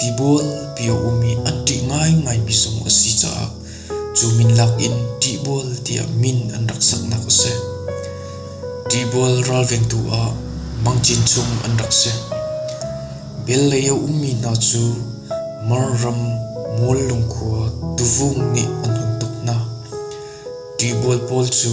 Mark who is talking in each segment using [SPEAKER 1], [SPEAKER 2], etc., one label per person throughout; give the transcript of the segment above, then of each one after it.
[SPEAKER 1] Tibual piaum i a ṭih ngaingaimi zong a si caah cu min lakin Ṭihbual tiah min an rak saknak a si. Ṭihbual ralvengtu ah Mang Cin chung an rak si. Bel lei a ummi hna cu Mar ram Mual lungkhua Tuvung nih an hun tuk hna. Ṭihbual pawl cu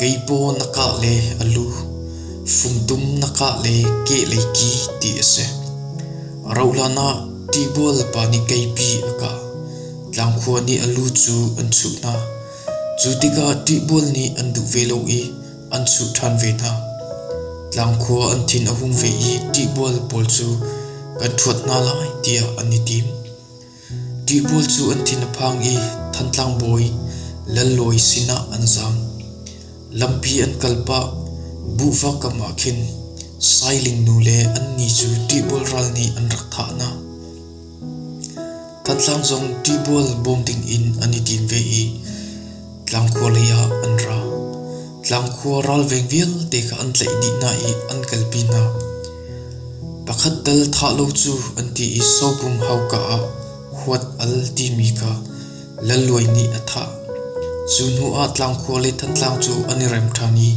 [SPEAKER 1] Kei paw na kah le a lu, fumdum na kah le kehlei ki ti a si. A rauh hlanah tibual pa nih keipi a kah. Tlangkhua nih a lu cu an chuh hna. Cu tikah tibual nih an duh ve lo i an chuh ṭhan ve hna. Tlangkhua an thin a hung ve i tibual pawl cu kan thuat hna lai tiah an i tim. Ṭihbul cu an thin a phang i Thantlang bawi Lal Lawi sinah an zaam. Lampi an kal pah, buhva kam ah khin Sailing nu le an ni cu ṭihbul ral nih an rak thah hna. Thantlang zong ṭihbul bawm ding in an i tim ve i Tlang khua lei ah an ra. Tlang khua ralveng vialte kha an tlaih dih hna i an kalpi hna. Pakhat tal thah lo cu an ti i sopum hauka ah huat al timi kha lalluai nih a thah. Cu hnu ah tlang khua le Thantlang cu an i rem ṭhan i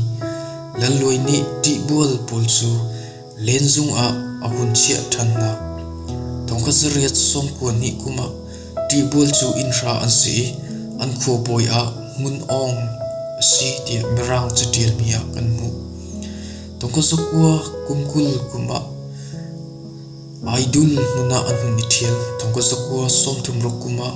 [SPEAKER 1] lalluai nih ṭihbual pawl cu Lenzung ah a vun chiah ṭhannak Thongkhat zariat sawmpuan nih kum ah ṭihbual cu inn hra an si i an khuabawi ah Ngun Aung a si tiah Mirang caṭialmi ah kan hmuh. Thongkhat zakua kum kul kum ah Aidul nun ah an hun i ṭhial. Thongkhat zakua sawmthum ruk kum ah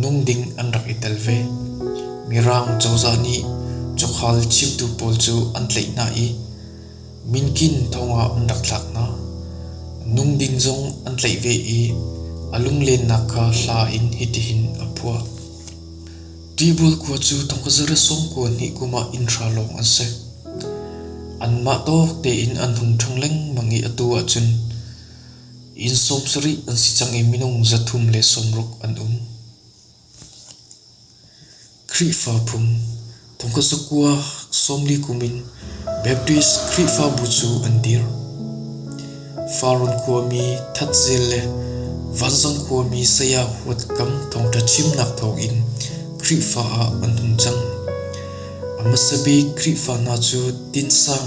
[SPEAKER 1] nun ding an rak i tel ve. Mirang cozah nih cukhal chimtu pawl cu an tlaih hna i minkin thongah an rak thlak hna. Nung ding zong an tlaih ve i a lunglennak kha hla in hitihin a phuah. Tibul kua cu thongkazara sawm kua hnih kumah inn hra lawng an si. Anmah tawk tein an hun ṭhang lengmang i atu ahcun Inn sawm sarih an si cang i minung zathum le sawmruk an um. Khrihfa phung Thongkasa kua sawmli kum in Baptist Khrihfabu cu an dir. Farun khuami thatzel le vanzang khuami saya huat kam thawngṭha chimnak thawng in Khrihfa ah an hung cang. A hmasa bik Khrihfa hna cu tinsang,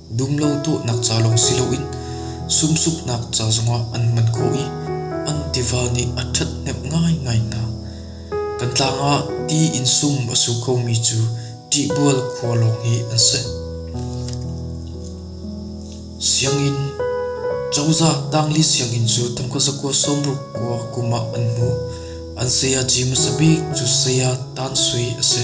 [SPEAKER 1] Dum lo dawhnak ca lawng si loin sumsuknak ca zongah an hman khawh i an tiva nih a ṭhathnemh ngaingai hna. Kan tlang ah ti in sum a su khomi cu ṭihbual khua lawng hi an si. Sianginn Cozah tangli sianginn cu tamka zakua sawmruk kua kum ah an hmu. An saya ci hmasa bik cu saya Tan Sui a si.